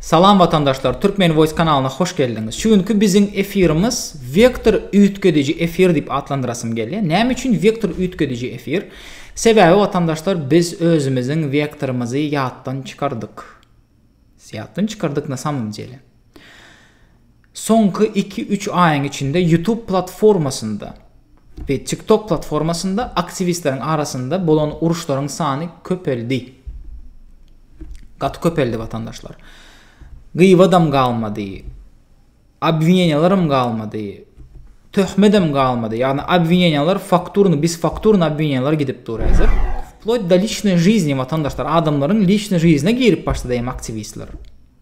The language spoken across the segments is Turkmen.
Salam watandaşlar Türkmen voice kanalyna hoş geldiňiz. Şu günki biziň efirimiz wektor üýtgediji efir diýip atlandyrasym gelýär. Näme üçin wektor üýtgediji efir? Sebäbi watandaşlar biz özümiziň wektorymyzy ýatdan çykardyk. Ýatdan çykardyk na samym jele. Soňky iki-üç aýyň içinde YouTube platformasynda we TikTok platformasynda aktiwistleriň arasynda bolan uruşlaryň sany köpeldi. Gaty köpeldi watandaşlar. Gyýbadam galmady. Obwineniýalaram galmady. Töhmedem galmady. Ýagny obwineniýalar fakturny, biz fakturny obwineniýalar gidip dur häzir. Wploýt da liçnoý žizne watandaşlar, adamlaryň liçnoý žizne girip başlady hem aktiwistler.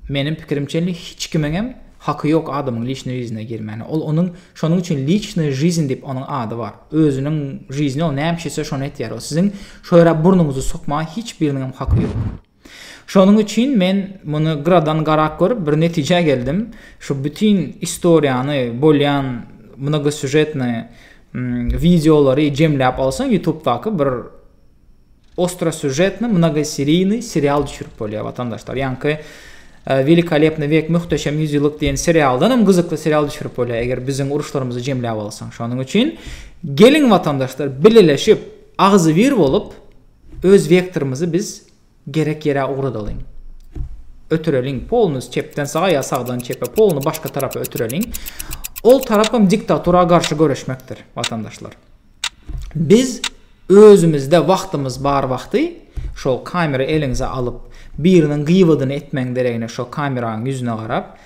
Meniň pikirimçe indi hiç kimiňem haky ýok adamyň liçnoý žizine girmäne. Ol onuň şonuň üçin liçnoý žiziň diýip onuň ady bar. Özüniň žizini ol näme istese şony etýär. Ol siziň şo ýere burnuňyzy sokmaga hiç biriniňem haky ýok. Şonuň üçin men muny gyradan garap görüp bir netijä geldim. Şu bütin istoriýany, bolýan mnogosýužetnyý wideolary jemläp alsaň ýutubdaky bir Ostrosýužetny mnogoseriynyý serial düşürip bolýar watandaşlar ýaňky Welikolebny wek möhteşem ýüzýyllyk diýen serialdan hem gyzykly serial düşürip bolýar eger biziň uruşlarymyzy jemläp alsaň şonuň üçin geliň watandaşlar bileleşip agzybir bolup öz wektorymyzy biz gerek ýere ugradalyň ötüreliň polny çepden saga ýa sagdan çepe polny başga tarapa ötüreliň ol tarap hem diktatura garşy göreşmekdir watandaşlar. Biz özümizde wagtymyz bar wagty şol kamera eliňize alyp biriniň gybadyny etmeň deregine şo kameraň ýüzüne garap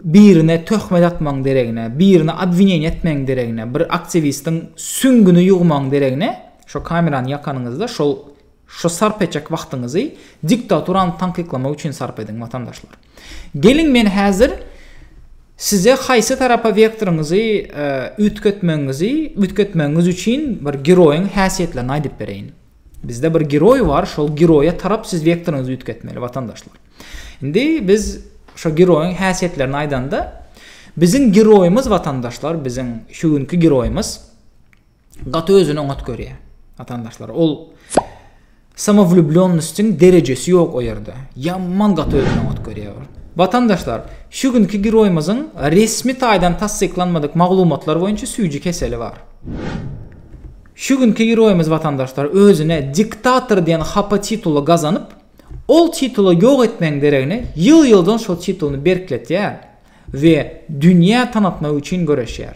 birine töhmet atmaň deregine birini obwineniýa etmeň deregine bir aktiwistiň süňňüni ýugmaň deregine şo kamerany ýakanyňyzda şol Şu sarp etjek wagtyňyzy diktaturany tankyklamak üçin sarp ediň watandaşlar. Geliň men häzir size haýsy tarapa wektoryňyzy üýtgetmegiňizi üýtgetmegiňiz üçin bir geroýyň häsiýetlerini aýdyp bereýin. Bizde bir geroý bar, şol geroýa tarap siz wektoryňyzy üýtgetmeli watandaşlar. Indi biz şo geroýyň häsiýetlerini aýdanda biziň geroýymyz watandaşlar biziň şu günki geroýymyz gaty özüni oňat görýär. Watandaşlar, ol samowlüblýonnostiň derejesi ýok o ýerde. Ýaman gaty özüni oňat görýär. Watandaşlar, şu günki giroýymyzyň resmi taýdan tassyklanmadyk maglumatlar boýunça süýji keseli bar. Şu günki giroýymyz watandaşlar özüne diktator diýen hapa tituly gazanyp, ol tituly ýok etmegiň deregine ýyl-ýyldan şol titulyny berkletýär we dünýä tanatmak üçin göreşýär.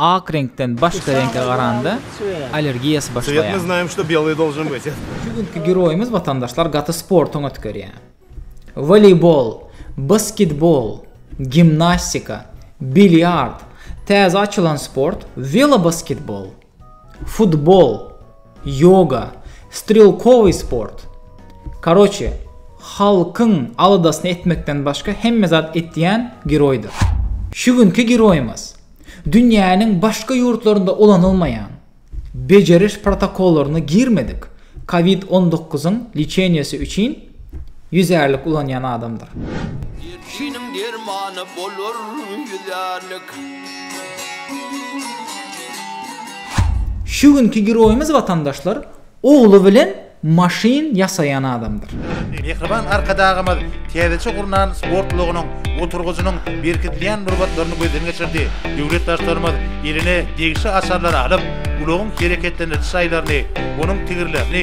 Ak reňkden başga reňke garanda allergiýasy başlaýar. Şu günki giroýymyz watandaşlar gaty sportuň ötgerýär. Woleýbol, basketbol, gimnastika, bilýard, täze açylan sport welobasketbol, futbol, Ýoga, strelkowy sport. Karoçe, halkyň aladasyny etmekden başga hemme zat etýän giroýdyr. Şu günki giroýymyz, dünýäniň başga ýurtlarynda ulanylmaýan, bejeriş protokollaryna girmedik covid on dokuz-yň liçeniýesi üçin Ýüzärlik ulanýan adamdyr. Derdiniň dermany bolar ýüzärlik. Şu günki giroýymyz watandaşlar ogly bilen maşyn ýasaýan adamdyr. Mähriban Arkadagymyz täzeçe gurnan sport ulagynyň oturgyjynyň berkidilýän nurbatlaryny gözden geçirdi. Döwlet Baştutanymyz eline degişli açarlary alyp, ulagyň hereketlendiriji şaýlaryny, onuň tigirlerini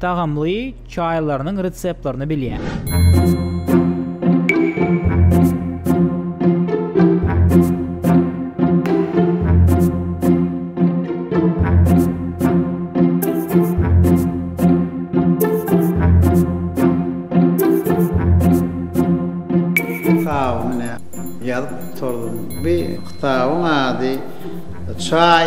Tagamly çaýlarynyň reseptlerini bilýär. Kitabyny ýazyp oturdym. Bu kitabyň ady Çaý.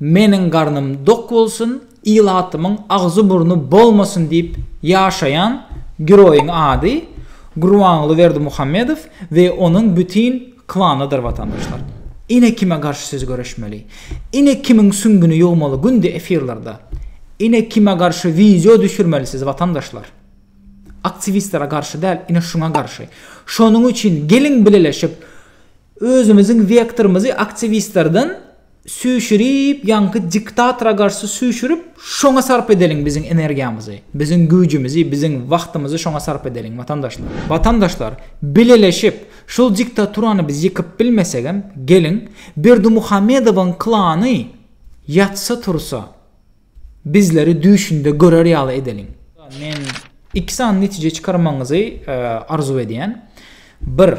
Meniň garnym dok bolsun, ilatymyň agzy-burny bolmasyn diýip ýaşaýan giroýyň ady Gurbanguly Berdimuhamedow we onuň bütin klanydyr watandaşlar. Ine kime garşy siz göreşmeli. Ine kimiň süňňüni ýugmaly günde efirlerde. Ine kime garşy wideo düşürmeli siz watandaşlar. Aktiwistlere garşy däl ine şuňa garşy. Şonuň üçin geliň bileleşip özümiziň wektorymyzy aktiwistlerden süýşürip ýaňky diktatora garşy süýşürip şoňa sarp edeliň biziň energiýamyzy biziň güýjümizi biziň wagtymyzy şoňa sarp edeliň watandaşlar watandaşlar bileleşip şul diktaturany biz ýykyp bilmesegem geliň berdimuhamedowyň klany ýatsa tursa Bizleri düýşünde görer ýaly edeliň. Men iki sany netije çykarmagyňyzy arzuw edýän. Bir,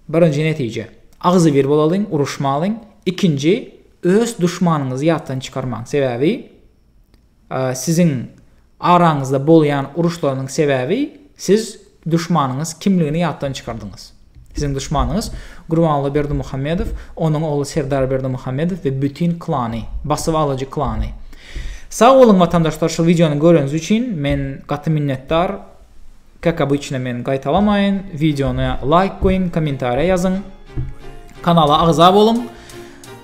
birinji netije, agzybir bolalyň, uruşmalyň. Ikinji, öz duşmanyňyzy ýatdan çykarmaň. Sebäbi siziň araňyzda bolýan uruşlarynyň sebäbi siz Duşmanyňyz kimligini ýatdan çykardyňyz. Siziň duşmanyňyz Gurbanguly Berdimuhamedow, onuň ogly Serdar Berdimuhamedow we bütin klany, basyp alyjy klany. Sag boluň watandaşlar şu wideony göreniz üçin men gaty minnetdar, kak obyçno men gaýtalamaýyn, wideona laýk goýuň, kommentariýa ýazyň, kanala agza boluň.